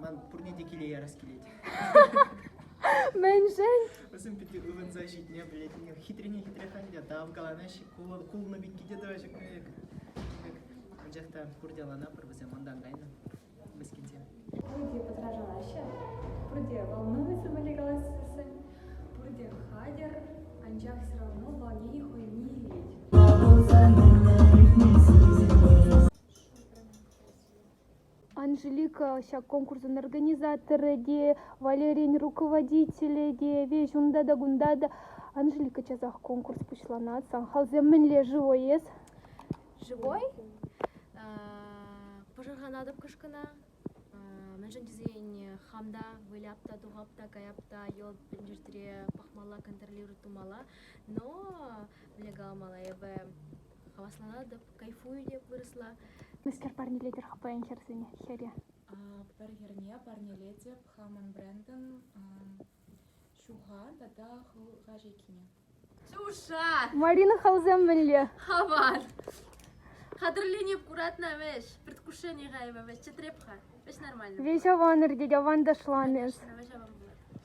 Ман пурне те киле ярас килет. Мӗншӗн? Вӗсем питӗ ывӑнса ҫитне пӗлет. Хитрене хитрех ӗнтӗ, тав каланаҫҫӗ. Кулӑ кулнӑ пекки те тӑваҫҫӗ пек. Анчах та пурте ӑланапӑр вӗсем унтан кайнӑ, мӗскӗнсем. Пурте пӑтрашалаҫҫӗ, пурте волнуются были голоса, пурте хатӗр, анчах все равно волнение хӑйне илет. Анжелика ҫак конкурсӑн организаторӗ те, Валерин руководителӗ те, веҫ унта та кунта та. Анжелика часах конкурс пуҫланать. Сахалсем мӗнле живой эс? Живой? Пӑшӑрханатӑп кӑшкӑна. Мӗншӗн тесен хам та выляп та, тухап та, каяп та, йӑлт пӗлтертере пӑхмалла, контролировать тумалла. Но вылякалмалла эпӗ. хавасланатӑп, кайфую те вырӑсла. Мӗскер парнелетӗр-ха паян хӗрсене, хӗре? Пӗр хӗрне парнелетӗп хамӑн брендӑн ҫуха тата хӑлха шеккине. Ҫуша! Марина хӑлсем мӗнле? Аван! Хатӗрленӗп куратна вӗҫ. Предвкушение хайвӗ вӗҫ. Чӗтреп-ха. Вӗҫ аван иртет, аванташлан эс. Вӗҫ аван пулать.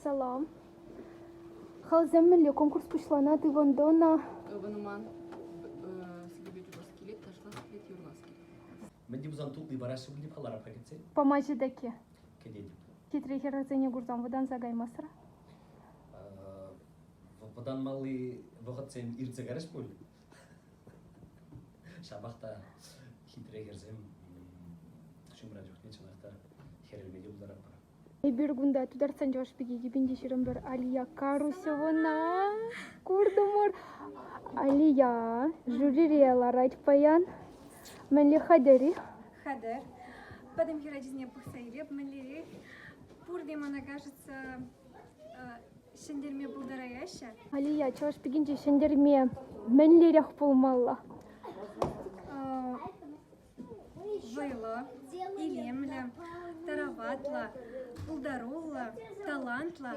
Салам. Халсем мӗнле конкурс пуҫланать ывӑн тӑна? Ывӑнман слюбит убор скелет, ташлас скелет, юрлас скелет. Мӗн те пулсан тулли параҫҫӗ пулни палларапха кӗтсен? Памаҫҫӗ тӗкке. Кӗтетӗп. Хитре хӗрарсене курсан вӑтанса каймасӑр? Вӑтанмалли вӑхӑтсем иртсе кайрӗҫ пуль. Ҫапах та хитре хӗрсем ҫумра чухне чӑнах та хӗрелме те пултаратпӑр. Эпир кунта Тутарстан Чӑваш пики кӗпинче ҫырӑпӑр. Алия Карусевӑна куртӑмӑр. Алия жюрире ларать паян. Мӗнле хатӗр-и? Хатӗр. Пӗтӗм хӗр ачисене пӑхса илеп, мӗнлерех? Пурте, мана кажется, ҫӗнтерме пултараяҫҫӗ. Алия, Чӑваш пикинче ҫӗнтерме мӗнлерех пулмалла? вӑйлӑ, илемлӗ, тараватлӑ, пултаруллӑ, талантлӑ.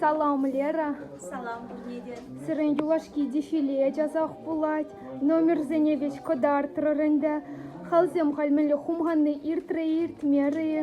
Салам, Лера. Салам пурне те. Сирӗн юлашки дефиле часах пулать. Номерсене веҫ кӑтартрӑр ӗнтӗ. Халсем халь мӗнле хумханни иртрӗ-иртмерӗ-и?